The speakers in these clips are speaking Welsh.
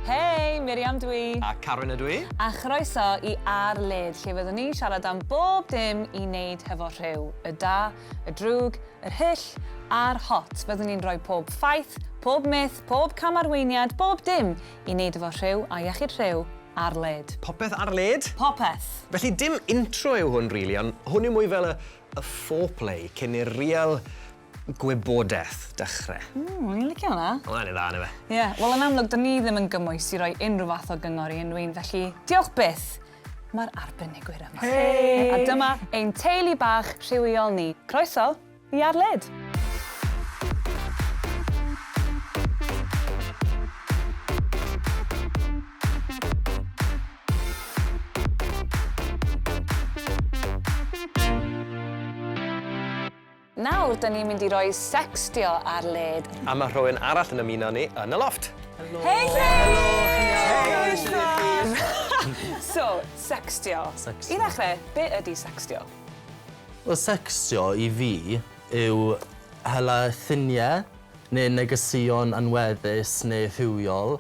Hei, Miriam dw i. A Karen ydw i. A chroeso i Ar Led, lle fyddwn ni'n siarad am bob dim i wneud hefo rhyw, y da, y drwg, yr hyll a'r hot. Fyddwn ni'n rhoi pob ffaith, pob myth, pob cam-arweiniad, bob dim i wneud efo rhyw a iechyd rhyw ar led. Popeth ar led? Popeth! Felly dim intro yw hwn rili, ond hwn yw mwy fel y y foreplay cyn i'r real Gwybodaeth, dechre. Ww, o'n i'n licio hwnna. Wel, mae'n un dda, yndyfe? Ie, wel yn amlwg, dyn ni ddim yn gymwys i roi unrhyw fath o gyngor i unrhyw un, felly diolch byth! Mae'r arbenigwyr yma. Hei! A dyma ein teulu bach rhywiol ni. Croeso i Ar Led! Nawr, da ni'n mynd i roi sextio ar led. A mae rhywun arall yn ymuno ni yn y loft. Helo! Hei Chris! Helo, Chris! so, sextio. sextio. I ddechrau, be ydy sextio? Wel, sextio i fi yw hela lluniau neu negeseuon anweddus neu rhywiol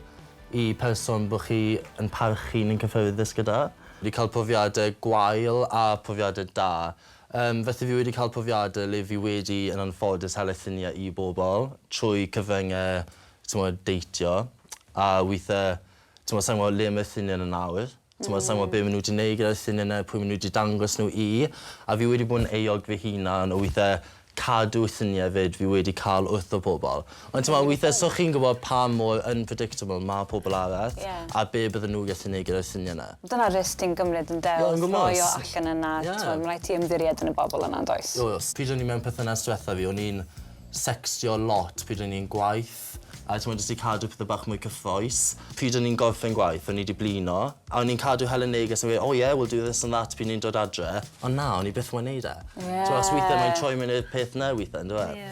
i person bod chi yn parchu neu'n cyffyrddus gyda. Fi cael profiadau gwael a profiadau da. Yym, felly fi wedi cael profiade le fi wedi yn anffodus hel llunie i bobl trwy cyfrynge t'mod deitio a withe t'mod sai'n gwbo le ma' llunie 'na nawr, t'mod sai'n gwbo be' ma' nw 'di neud gyda'r llunie 'na pwy ma' nw 'di dangos nw i a fi wedi bod yn euog fy hunan o withe cadw llunie 'fyd fi wedi ca'l wrtho pobl. Ond t'mod withe so chi'n gwbod pa mor unpredictable ma' pobol arall. Ie. A be' bydden nhw gallu neud gyda'r swnio 'na. Dyna risg ti'n gymryd ynde? Ie yn gwmws. Wrth roi o allan yna. Ie. T'mod ma' raid ti ymddiried yn y bobol yna yndoes? Oes. Pryd o'n i mewn perthynas dwetha fi o'n i'n secstio lot pryd o'n i yn gwaith a t'mod jyst i cadw pethe bach mwy cyffrous. Pryd o'n i'n gorffen gwaith o'n i 'di blino a o'n i'n cadw hela neges yn gweud oh yeah we'll do this and that pryd o'n i'n dod adre ond na o'n i byth mo'yn neud e. Ie. T'mo' os withe mae'n troi mewn i'r peth 'na withe on'd yw e? Ie.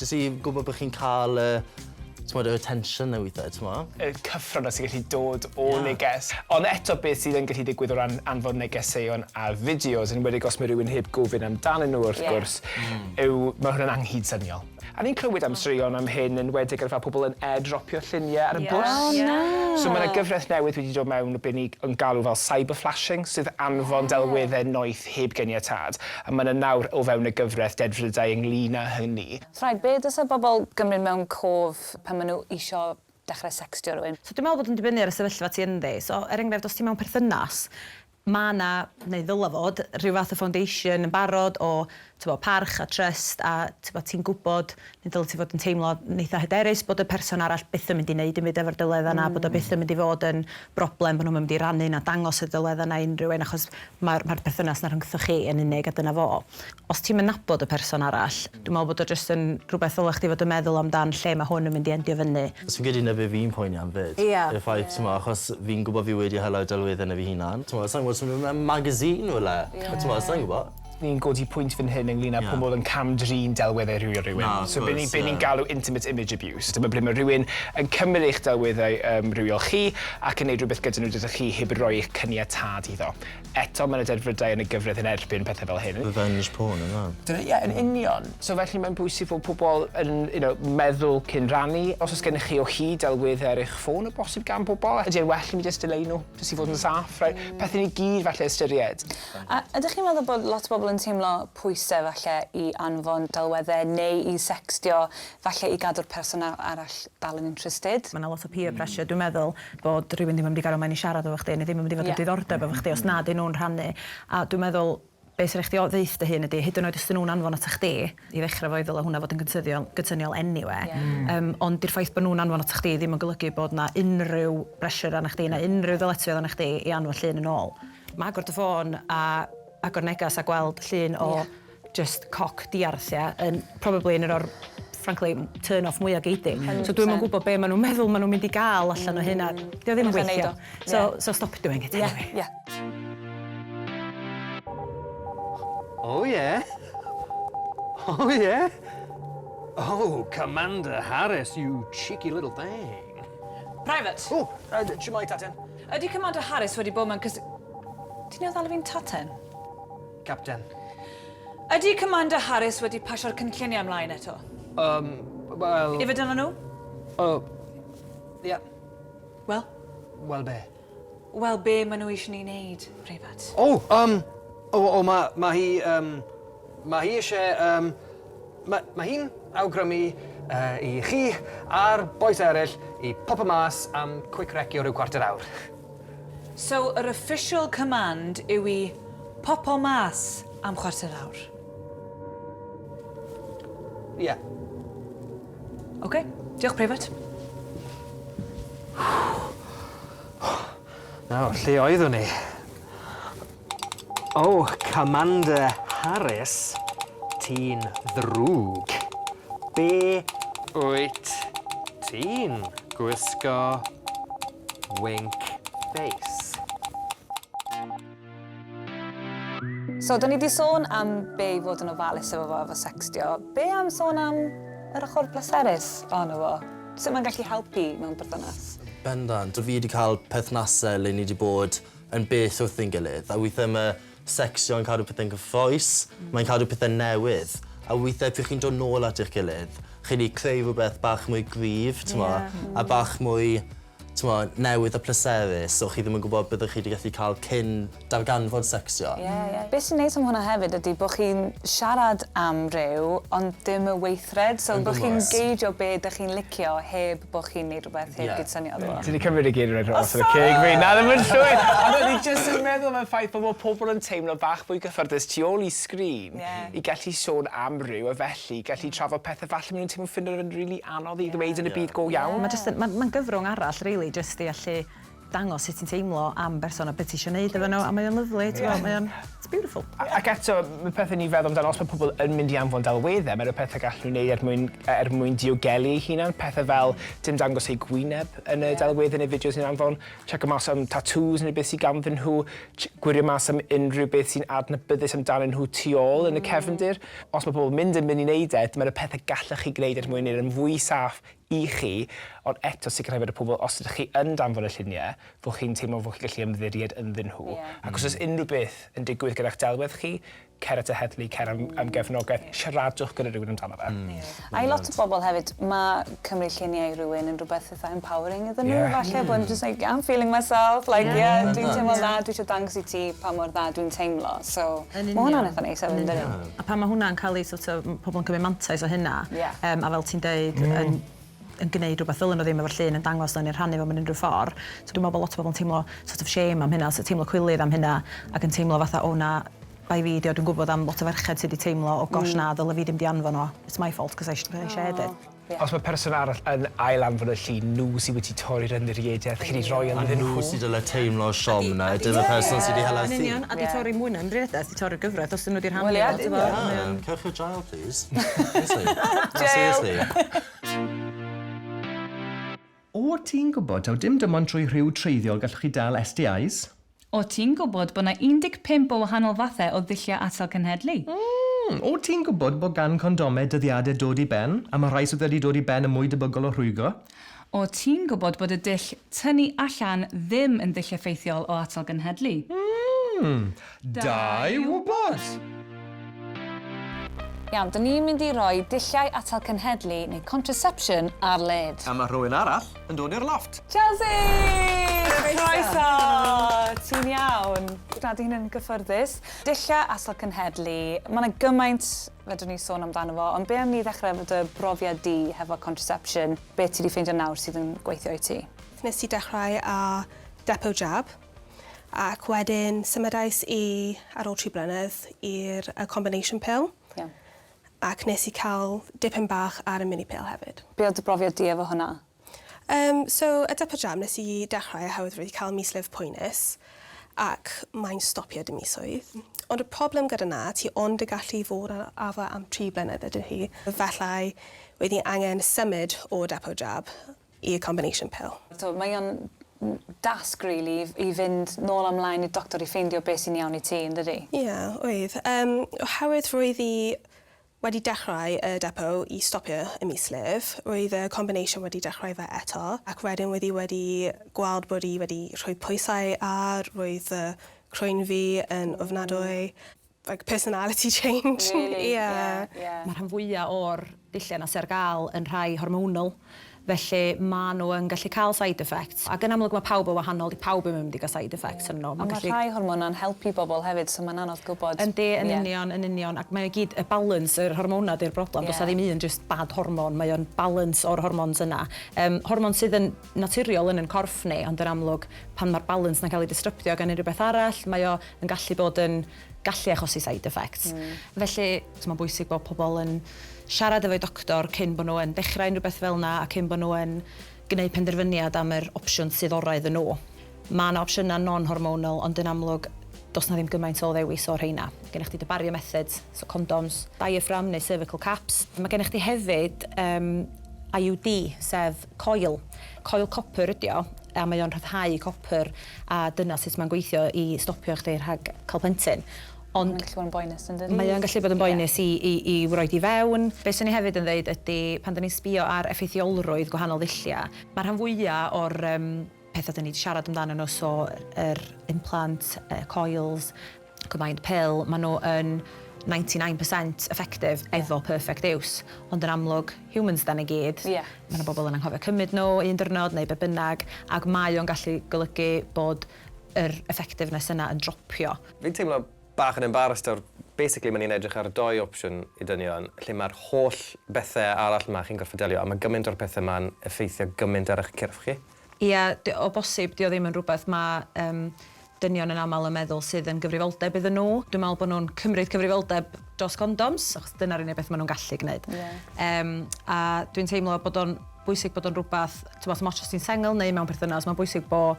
Jyst i gwybod bod chi'n cael y t'mod yr attention 'na withe t'mo'? Y cyffrona sy'n gallu dod o neges. Ond eto beth sydd yn gallu digwydd o ran anfon negeseuon a fideos yn enwedig os ma' rywun heb gofyn amdanyn nhw wrth gwrs yw ma' hwnna'n anghydsyniol. A ni'n clywed am straeon am hyn yn enwedig ar fel pobl yn airdropio llunie ar y bws. O na! So ma' 'na gyfres newydd wedi dod mewn be' ni yn galw fel cyber flashing sydd anfon delwedde noeth heb ganiatâd, a mae yna nawr o fewn y gyfraith dedfrydau ynglŷn â hynny. Rhaid, be dylse bobl gymryd mewn cof pan maen nhw isio dechrau sextio rhywun? So dwi'n meddwl bod yn dibynnu ar y sefyllfa ti ynddi. So, er enghraifft, os ti mewn perthynas, mae yna, neu ddylai fod, rhyw fath o foundation yn barod o, tibod, parch a trust a, tibod, ti'n gwybod Neu dylai ti fod yn teimlo yn eitha hyderus bod y person arall byth yn mynd i neud dim byd efo'r delwedda yna, bod o byth yn mynd i fod yn broblem, bod nhw'm yn mynd i rannu na dangos y delwedda yna i unrhyw un achos mae'r mae'r perthynas yna rhyngthoch chi yn unig a dyna fo. Os ti'm yn nabod y person arall, dwi'n meddwl bod o jyst yn rhywbeth ddyla chdi fod yn meddwl amdan lle mae hwn yn mynd i endio fyny. Os fi'n credu 'na be fi'n poeni am 'fyd. Ia. Y ffaith t'mo' achos fi'n gwbo fi wedi hela'r delwedde 'na fy hunan. T'mo' sai'n gwbo os ma' fe mewn magazine rywle. Ie. T'mo' sai'n gwbo. ni'n codi pwynt fan hyn ynglyn â pobl yn cam-drin delweddau rhywiol rhywun. Na, wrth gwrs, ie. So be ni be ni'n galw intimate image abuse. Dyma ble mae rhywun yn cymryd eich delweddau yym rhywiol chi ac yn neud rhywbeth gyda nhw dydych chi heb roi eich cyniatâd iddo. Eto ma' 'na delfrydau yn y gyfraith yn erbyn pethe fel hyn. Revenge porn ynde? Dyna ie yn union. So felly mae'n bwysig fod pobl yn you know meddwl cyn rannu. Os o's gennych chi o hyd delweddau ar eich ffôn o bosib gan bobl ydy e'n well i mi jyst dileu nhw jyst i fod yn saff reit? Pethau ni gyd falle ystyried. A ydych chi'n meddwl bod lot o bobl yn teimlo pwysau falle i anfon delweddau neu i secstio falle i gadw'r person a- arall dal yn interested? Mae 'na lot o peer pressure dwi'n meddwl bod rhywun ddim yn mynd i gario mlaen i siarad efo chdi neu ddim yn mynd i fod yn diddordeb efo chdi os na 'dyn nhw'n rhannu a dwi'n meddwl be' sy rai' chdi o- ddeutho dy hun ydi hyd yn oed os 'dyn nhw'n anfon atat chdi i ddechrau fo i ddyla hwnna fod yn gyntyddiol gynsyniol eniwe yym ond 'di'r ffaith bod nhw'n anfon atat chdi ddim yn golygu bod 'na unrhyw bressure arnach chdi na unrhyw ddyletswydd arnach chdi i anfon llun yn ôl. Ma agor dy ffôn a agor neges a gweld llun o jyst coc diarth ia yn probably yn un o'r frankly turn off mwya gei di. So dwi'm yn gwbo be ma nw'n meddwl ma nw'n mynd i ga'l allan o hyn a 'di o ddim yn gweithio. So so stop doing it anyway. Ie ie. Oh yeah. Oh yeah. Oh Commander Harris you cheeky little thing. Private! Oh shwmae Tatyn. Ydy Commander Harris wedi bod mewn cys... Ti'n newydd alw fi'n taten? Capten. Ydy Commander Harris wedi pasio'r cynlluniau ymlaen eto? Um, wel... Ife dyna nhw? O... Ie. Yeah. Wel? Wel be? Wel be maen nhw eisiau ni wneud, preifat? O, um... O, o mae ma hi... Um, Mae hi eisiau yym ma- mae hi'n awgrymu yy i chi a'r bois eraill i popio mas am quick recio ryw cwarter awr. So yr official command yw i popio mas am chwarter awr? Ie. Ok, diolch preifat. Nawr, lle oeddwn ni? O, Commander Harris, ti'n ddrwg. Be' wyt ti'n gwisgo? Wink face. So, da ni wedi sôn am be i fod yn ofalus efo fo efo sextio. Be am sôn am yr ochr bleserus ohono fo? Sut mae'n gallu helpu mewn perthynas? Bendant. Dw fi wedi cael perthnasau le ni wedi bod yn bell wrth ein gilydd, a weithiau mae secsio yn cadw pethau'n gyffrous, mm. mae'n cadw pethau'n newydd, a weithiau pryd chi'n dod nôl at eich gilydd, chi'n wedi creu rhywbeth bach mwy gryf, yeah. a bach mwy t'mod, newydd a pleserus, so chi ddim yn gwybod byddwch chi 'di gallu cael cyn darganfod secsiwn. Ie, ie. Be' sy'n neis am hwnna hefyd ydi bo' chi'n siarad am rhyw ond dim y weithred, so bo' chi'n geidio be' 'dych chi'n licio heb bo' chi'n neud rhywbeth heb gyd-swnio iddo fo. Ti 'di cymryd y geiriau dros y ceg fi. Na, ddim yn llwyr! Ond o'n i jyst yn meddwl am y ffaith bo' ma' pobl yn teimlo bach mwy cyffyrddus tu ôl i sgrin. i gallu sôn am ryw a felly gallu trafod pethe falle ma' nhw'n teimlo ffindo fe'n rili anodd i ddweud yn y byd go iawn. Mae jyst yn... mae'n... mae'n gyfrwng arall rili jyst i allu dangos sut ti'n teimlo am berson a be ti isio wneud efo nhw a mae o'n lyfli ti'n gwybod mae o'n... it's beautiful. Ac eto mae pethau ni'n feddwl amdano os mae pobl yn mynd i anfon delweddau mae 'na pethau gallen nhw wneud er mwyn yy er mwyn diogelu eu hunain pethau fel dim dangos eu gwyneb yn y delweddu neu fideos ni'n anfon checio mas am tatŵs neu beth sy ganddyn nhw Gwirio mas am unrhyw beth sy'n adnabyddus amdanyn nhw tu ôl yn y cefndir. Os mae pobl mynd yn mynd i wneud e, dyma y pethau gallech chi gwneud er mwyn wneud e'n fwy saff i chi, ond eto sicrhau fod y pobl, os ydych chi yn danfon y lluniau, fod chi'n teimlo fod chi'n gallu ymddiried ynddyn nhw. Ac os oes unrhyw beth yn digwydd gyda'ch delwedd chi, cer at y heddlu, cer am, am gefnogaeth, siaradwch gyda rhywun amdano fe. Mm. Yeah. I lot o bobl hefyd, mae cymryd lluniau i rhywun yn rhywbeth eitha empowering iddyn nhw, yeah. falle mm. bod just like, I'm feeling myself, like, yeah, yeah, yeah dwi'n teimlo'n dda, dwi eisiau dangos i ti pa mor dda dwi'n teimlo, so mae hwnna'n eitha neis hefyd, dydyn. A pan mae hwnna'n cael ei sort of, pobl yn cymryd mantais o hynna, yeah. um, a fel ti'n deud, mm. yn yn gneud rhywbeth ddylen nhw ddim efo'r llun yn dangos nhw neu'n rhannu fo mewn unrhyw ffordd. So dwi'n meddwl bod lot o bobl yn teimlo sort of shame am hynna, teimlo cwilydd am hynna ac yn teimlo fatha o na, bai fi 'di o, dwi'n gwybod am lot o ferched sydd 'di teimlo o gosh na, ddyle fi ddim 'di anfon o, it's my fault 'cause I I shared it. Os mae person arall yn ail-anfon y llun, nhw sydd wedi torri'r ymddiriedaeth chi 'di rhoi ynddyn nhw. A nhw sydd dyle teimlo siom na ydy'r person sydd 'di hela'r llun. Yn union, a 'di torri mwy na ymddiriedaeth, 'di torri'r gyfraith os 'dyn nhw 'di rhannu fo, tibod. Ie, yn union. Ie, cewch chi jail. Plîs? Seriously? Na, seriously? O ti'n gwybod taw dim dim ond trwy rhyw treiddiol gallwch chi dal STIs? O ti'n gwybod bod 'na 15 o wahanol fathau o ddulliau atal cenhedlu? Mm! O ti'n gwybod bod gan condomau dyddiadau dod i ben, a mae rhai sydd wedi dod i ben yn mwy debygol o rhwygo? O, ti'n gwybod bod y dull tynnu allan ddim yn ddull effeithiol o atal genhedlu. Mm, da i wybod! Iawn, dyn ni'n mynd i roi dulliau atal cenhedlu neu contraception ar led. A mae rhywun arall yn dod i'r lofft. Chelsea! Croeso! Ti'n iawn? Na, 'di hyn yn gyffyrddus. Dulliau atal cenhedlu, mae 'na gymaint fedrwn ni sôn amdano fo, ond be am ni ddechrau efo dy brofiad di hefo contraception, be ti wedi ffeindio nawr sydd yn gweithio i ti? Nes i dechrau â depo jab, ac wedyn symudais i, ar ôl tri blynedd, i'r y combination pill. Iawn. Ac nes i cael dipyn bach ar y mini pill hefyd. Be oedd dy brofiad di efo hwnna? Yym so y Dipper Jam nes i dechrau oherwydd wedi cael mislif poenus ac mae'n stopio dy misoedd. Ond y problem gyda 'na ti ond y gallu fod ar afa am tri blynedd ydyw hi. Efallai wyt ti angen symud o Depo Jab i'r combination pill. So mae o'n dasg rili i fynd nôl a mlaen i'r doctor i ffeindio beth sy'n iawn i ti yndydi? Ie oedd. Yym oherwydd roedd i Wedi dechrau y depo i stopio ym mis Lif, roedd y combination wedi dechrau fe eto, ac wedyn roedd hi wedi gweld bod hi wedi rhoi pwysau ar, roedd fy croen fi yn ofnadwy. Like personality change. Really? Ie. Ie. Mae'r rhan fwyaf o'r dulliau yna sy ar gael yn rhai hormonal. Felly maen nhw yn gallu cael side effects. Ac yn amlwg mae pawb yn wahanol, dyw pawb ddim yn mynd i gael side effects arnyn nhw. Ond mae rhai hormonau'n helpu pobl hefyd, so mae'n anodd gwybod. Yndi, yn union, yn union. Ac mae o i gyd, y balance, yr hormonau ydy'r broblem. Does 'na ddim un jyst bad hormon, mae o'n balance o'r hormons yna. Yym, hormon sydd yn naturiol yn ein corff ni, ond yn amlwg pan mae'r balance 'na'n cael ei distrybtio gan unrhyw beth arall, mae o yn gallu bod yn, gallu achosi side effects. Felly, mae'n bwysig bod pobl yn siarad efo'u doctor cyn bod nhw yn dechrau unrhyw beth fel yna a cyn bod nhw yn gwneud penderfyniad am yr opsiwn sydd orau iddyn nhw. Mae yna opsiynau non-hormonal, ond yn amlwg, does yna ddim gymaint o ddewis o'r rheina. Gennych chdi dy bario methods, so condoms, diaphragm neu cervical caps. Mae gennych chdi hefyd IUD, sef coil. Coil copr ydi o a mae o'n rhyddhau copr a dyna sut mae'n gweithio i stopio chdi rhag cael plentyn. Ond... Mae'n gallu bod yn boenus yn dydi? Mae o'n gallu bod yn boenus i i i roid i fewn. Be' swn i hefyd yn ddeud ydi pan 'dan ni'n sbio ar effeithiolrwydd gwahanol ddullia', ma'r rhan fwya' o'r yym Pethau dan ni wedi siarad amdanyn nhw, so yr implant, y coils, combined pill, maen nhw yn ninety nine percent effective efo perfect use, ond yn amlwg, humans dan ni gyd, mae 'na bobl yn anghofio cymryd nhw un diwrnod neu be bynnag, ac mae o'n gallu golygu bod yr effectiveness yna yn dropio. Fi'n teimlo bach yn embarrassed nawr, basically mae ni'n edrych ar dou opsiwn i dynion, lle mae'r holl bethau arall 'ma chi'n gorfod delio, a mae gymaint o'r pethau 'ma'n effeithio gymaint ar eich cyrff chi. Ia, d- o bosib, 'di o ddim yn rhywbeth ma' yym dynion yn aml yn meddwl sydd yn gyfrifoldeb iddyn nhw. Dwi'n meddwl bod nhw'n cymryd cyfrifoldeb dros gondoms, achos dyna'r unig beth ma' nhw'n gallu gwneud. Ie. Yym, a dwi'n teimlo bod o'n bwysig bod o'n rhywbeth, t'mod, dim ots os ti'n sengl neu mewn perthynas, ma'n bwysig bo'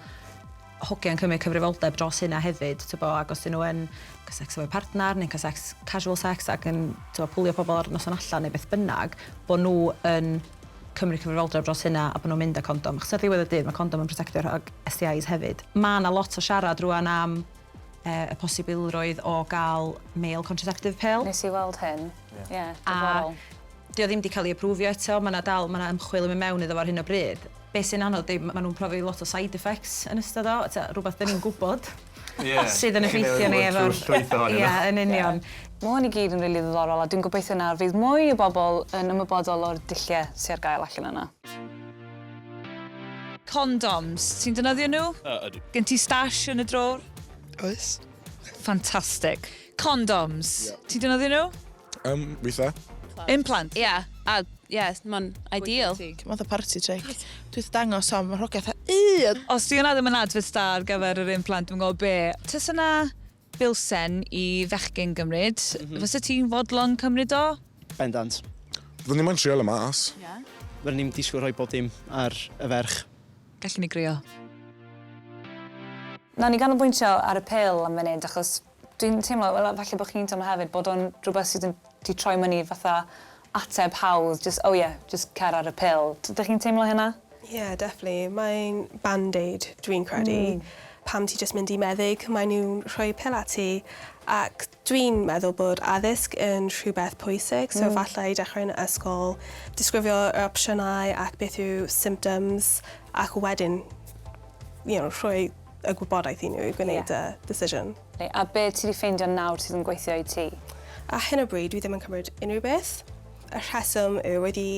hogiau'n cymryd cyfrifoldeb dros hynna hefyd, t'bo', ac os 'dyn nhw yn cael secs efo'u partner neu'n cael secs, casual sex, ac yn, t'bo', pwlio pobl ar noson allan neu beth bynnag, bo' nhw yn cymryd cyfrifoldeb dros hynna a bod nhw'n mynd â condom, achos ar ddiwedd y dydd mae condom yn protectio rhag STIs hefyd. Mae 'na lot o siarad rŵan am yy y posibilrwydd o gael male contraceptive pill. Nes i weld hyn. Ie. Ie, diddorol. A 'di o ddim 'di cael ei aprwfio eto, ma' 'na dal, ma' 'na ymchwil yn mynd mewn iddo fo ar hyn o bryd. Be' sy'n anodd 'di ma' nhw'n profi lot o side effects yn ystod o, ta rwbath 'dan ni'n gwbod. yeah. sydd yn effeithio ni efo'r... llwyth ohonyn nhw. Ia, yn union. Yeah. Mae hwn i gyd yn rili really ddiddorol a dwi'n gobeithio nawr fydd mwy o bobl yn ymwybodol o'r dulliau sy'n ar gael allan yna. Condoms, ti'n dynyddio nhw? Uh, ydw. Gen ti stash yn y drôr? Oes. Fantastic. Condoms, yeah. ti'n dynyddio nhw? Um, weitha. Implant. Ia, a ia, mae'n ideal. Mae'n dda party trick. Dwi'n dangos am y rhogeth a un. Os di hwnna ddim yn adfod da ar gyfer yr implant, dwi'n gwybod be. Tys yna bilsen i fechgyn gymryd, mm -hmm. fysa ti'n fodlon cymryd o? Bendant. Fyddwn ni'n trio y mas. Yeah. Fyddwn ni'n disgwyl rhoi bod dim ar y ferch. Gallwn ni grio. Na, ni ganolbwyntio ar y pil am funud, achos Dwi'n teimlo fel falle bo' chi'n teimlo hefyd bod o'n rhywbeth sydd yn 'di troi myni fatha ateb hawdd jyst oh yeah jyst cer ar y pil. Dych chi'n teimlo hynna? Ie definitely mae'n band-aid dwi'n credu. Hmm. Pan ti jyst mynd i meddyg mae nw'n rhoi pil at ti ac dwi'n meddwl bod addysg yn rhywbeth pwysig so falle i dechrau yn ysgol disgrifio yr opsiynau ac beth yw symptoms ac wedyn you know rhoi y gwybodaeth i nhw i gwneud y decision. A be ti wedi ffeindio nawr sydd yn gweithio i ti? Ar hyn o bryd dwi ddim yn cymryd unrhyw beth. Y rheswm yw wedi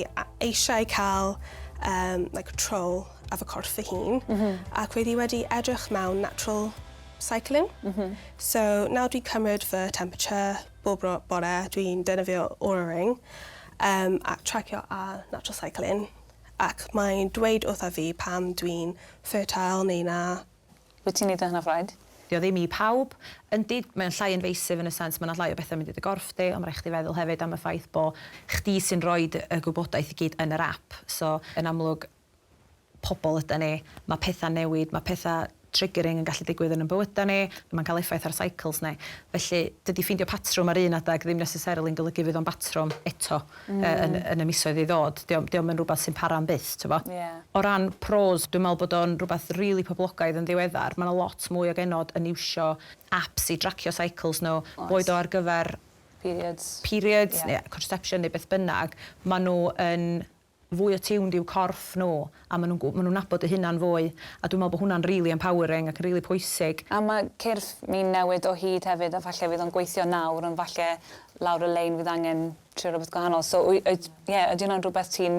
eisiau cael um, like, control ar fy corff fy hun mm -hmm. ac wedi wedi edrych mewn natural cycling. Mm -hmm. So nawr dwi'n cymryd fy temperature bob bore, dwi'n defnyddio Oura Ring um, a tracio ar natural cycling. Ac mae'n dweud wrtha fi pam dwi'n fertile neu na. Wyt ti'n neud o hynaf raid? Dio ddim i pawb. Yndi, mae o'n llai invasive yn y sense ma' 'na llai o betha mynd i dy gorff di, ond ma' raid chdi feddwl hefyd am y ffaith bo' chdi sy'n roid y gwybodaeth i gyd yn yr app, so yn amlwg pobol ydan ni, ma' petha'n newid, ma' petha triggering yn gallu digwydd yn yn bywydau ni, mae'n cael effaith ar cycles ni. Felly, dydy ffeindio patrwm ar un adeg ddim necessarily yn golygu fydd o'n batrwm eto yn yn y misoedd i ddod. Dio'm dio'm yn rhywbeth sy'n para am byth, tibod? Ie. O ran pros, dwi'n meddwl bod o'n rhywbeth rili poblogaidd yn ddiweddar. Mae 'na lot mwy o genod yn iwsio apps i dracio cycles nhw... Oes. ...boed o ar gyfer... Periods. ...periods... Ie. ...neu contraception neu beth bynnag. Maen nhw yn fwy attuned i'w corff nhw a maen nhw'n maen nhw'n nabod eu hunan fwy a dwi'n meddwl bod hwnna'n rili empowering ac yn rili pwysig. A mae cyrff ni'n newid o hyd hefyd a falle fydd o'n gweithio nawr ond falle lawr y lein fydd angen trio rhywbeth gwahanol so wy- yy ie ydy hwnna'n rhywbeth ti'n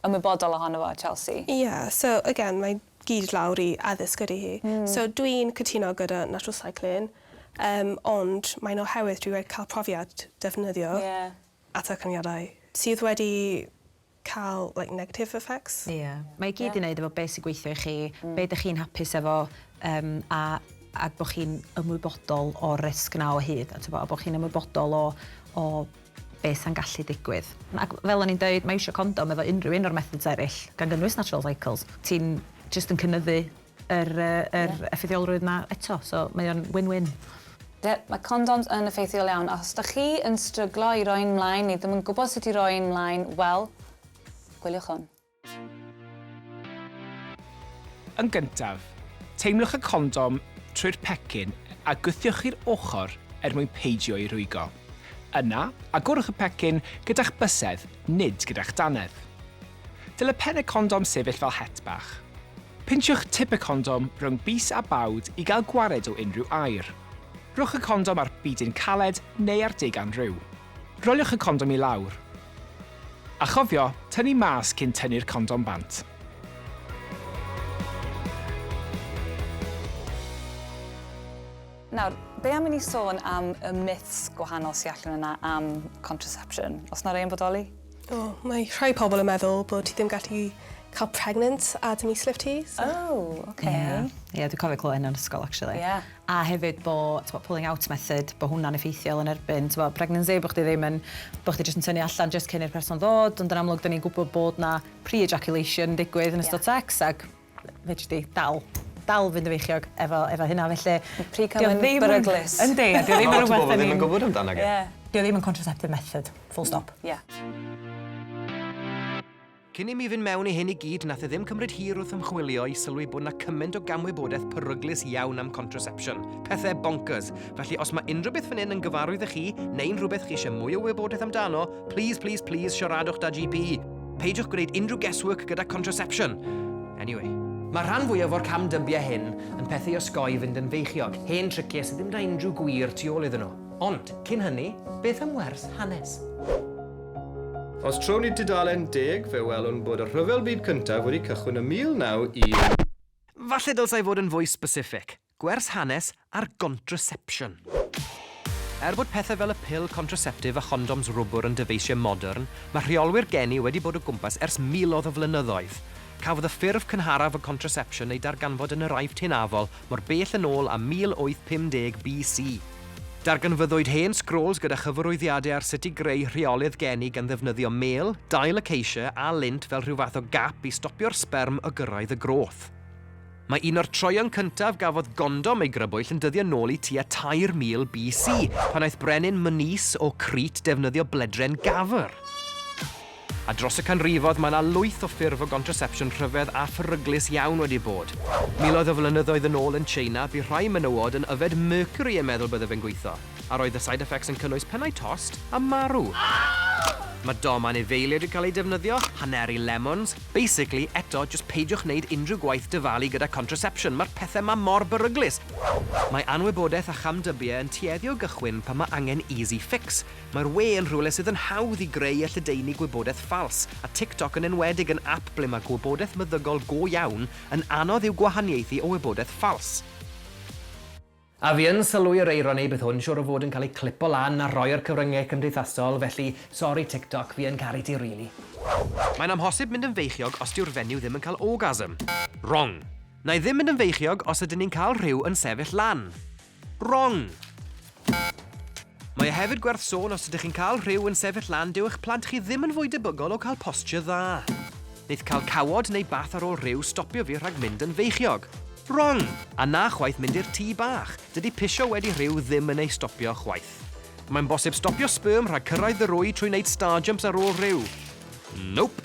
ymwybodol ohono fo Chelsea? Ie so again mae gyd lawr i addysg ydy hi so dwi'n cytuno gyda natural cycling yym ond mae'n oherwydd dwi wedi cael profiad defnyddio atercyniadau sydd wedi cael like negative effects. Ie. Mae i gyd i neud efo be sy'n gweithio i chi, be dych chi'n hapus efo yym a a bod chi'n ymwybodol o'r risg yna o hyd a tibod a bod chi'n ymwybodol o o be sa'n gallu digwydd. Ac fel o'n i'n deud mae iwsio condom efo unrhyw un o'r methods eraill, gan gynnwys natural cycles, ti'n jyst yn cynyddu yr yr effeithiolrwydd 'ma eto so mae o'n win win. Yep, mae condoms yn effeithiol iawn, os dych chi yn stryglo i roi'n mlaen neu ddim yn gwybod sut i roi'n mlaen, wel, gwyliwch hwn. Yn gyntaf, teimlwch y condom trwy'r pecyn a gwthiwch i'r ochr er mwyn peidio ei rwygo. Yna, agorwch y pecyn gyda'ch bysedd, nid gyda'ch dannedd. Dyle pen y condom sefyll fel het bach. Pinsiwch tip y condom rhwng bys a bawd i gael gwared o unrhyw aer. Rhowch y condom ar bidyn caled neu ar deugan rhyw. Roliwch y condom i lawr. A chofio, tynnu mas cyn tynnu'r condom bant. Nawr, be am i ni sôn am y myths gwahanol sy allan yna am contraception? Oes 'na rei yn bodoli? O, mae rhai pobl yn meddwl bod ti ddim gallu cael pregnant a dy mislif ti, so... Oh, ok. Ie, ie dwi cofio clywed hynna yn ysgol actually. Ie. A hefyd bo' t'bo' pulling out method, bo' hwnna'n effeithiol yn erbyn t'bo' pregnancy, bo' chdi ddim yn... Bo' chdi jyst yn tynnu allan jyst cyn i'r person ddod, ond yn amlwg 'dan ni'n gwbod bod 'na pre-ejaculation yn digwydd yn ystod sex ag fedri di dal dal fynd yn feichiog efo efo hynna felly... Ma'r pry cam yn beryglus. Yndi a 'di o ddim yn rwbeth 'dan ni'n... Ma' lot o bobol ddim yn gwbod amdano fe. Ie. 'Di o ddim yn contraceptive method. Full stop. Ia. Cyn i mi fynd mewn i hyn i gyd nath e ddim cymryd hir wrth ymchwilio i sylwi bod 'na cymaint o gamwybodaeth peryglus iawn am contraception. Pethe bonkers. Felly os ma' unrhyw beth fan 'yn yn gyfarwydd i chi neu'n rhywbeth chi isie mwy o wybodaeth amdano, plîs plîs plîs siaradwch 'da GP! Peidiwch gwneud unrhyw guesswork gyda contraception. Anyway. Mae rhan fwyaf o'r cam dybiau hyn yn pethau i osgoi fynd yn feichiog, hen triciau sydd ddim na unrhyw gwir tu ôl iddyn nhw. Ond, cyn hynny, beth am wers hanes? Os trown ni tudalen deg, fe welwn bod y Rhyfel Byd Cyntaf wedi cychwyn ym 1914. Falle dylsai fod yn fwy specific. Gwers hanes ar gontrasepsiwn. Er bod pethau fel y pil contraseptif a chondoms rwbwr yn dyfeisiau modern, mae rheolwyr geni wedi bod o gwmpas ers miloedd o flynyddoedd. Cafodd y ffurf cynharaf o gontrasepsiwn ei darganfod yn yr Aifft Hynafol mor bell yn ôl â 1850 BC. Darganfyddwyd hen sgrôls gyda chyfarwyddiadau ar sut i greu rheolydd geni gan ddefnyddio mêl, dail acacia a lint fel rhyw fath o gap i stopio'r sberm o gyrraedd y groth. Mae un o'r troeon cyntaf gafodd gondom ei grybwyll yn dyddio nôl i tua 3000 BC, pan aeth brenin Myneus o Crete defnyddio bledren gafr. A dros y canrifodd, mae yna lwyth o ffurf o gontrasepsiwn rhyfedd a pheryglus iawn wedi bod. Miloedd o flynyddoedd yn ôl yn Tsieina, bu rhai menywod yn yfed mercury yn meddwl byddaf yn gweithio, a roedd y side effects yn cynnwys pennau tost a marw. Mae dom anifeiliaid yn cael eu defnyddio, haneri lemons, Basically, eto, jyst peidiwch neud unrhyw gwaith dyfalu gyda contraception, mae'r pethe 'ma mor beryglus! Mae anwybodaeth a chamdybie yn tueddu o gychwyn pan mae angen easy fix. Mae'r we yn rhywle sydd yn hawdd i greu a lledaenu gwybodaeth ffals, a TikTok yn enwedig yn ap ble mae gwybodaeth meddygol go iawn yn anodd i'w gwahaniaethu o wybodaeth ffals. A fi yn sylwi yr eironi bydd hwn siwr o fod yn cael ei clipo lan a rhoi ar cyfryngau cymdeithasol felly sori TikTok fi yn caru ti rili. Mae'n amhosib mynd yn feichiog os dyw'r fenyw ddim yn cael orgasm. Wrong! Wna i ddim mynd yn feichiog os ydyn ni'n cael rhyw yn sefyll lan. Wrong! Mae e hefyd gwerth sôn os ydych chi'n cael rhyw yn sefyll lan dyw eich plant chi ddim yn fwy debygol o cael posture dda. Neith cael cawod neu bath ar ôl rhyw stopio fi rhag mynd yn feichiog. Wrong! A na chwaith mynd i'r tŷ bach, dydy pisio wedi rhyw ddim yn ei stopio chwaith. Mae'n bosib stopio sperm rhag cyrraedd y rwy trwy wneud starjumps ar ôl rhyw. Nope!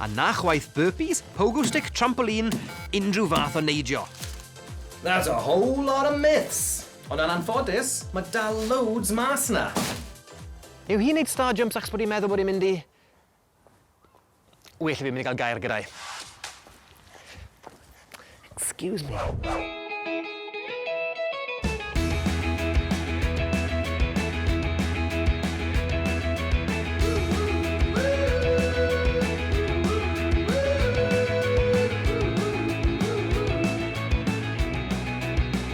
A na chwaith burpees, pogo stick, trampoline, unrhyw fath o neidio. That's a whole lot of myths! Ond yn anffodus, mae dal loads mas 'na! Yw hi'n neud star jumps achos bod hi'n meddwl bod hi'n mynd i... Well i fi mynd i gael gair gyda hi. Excuse me.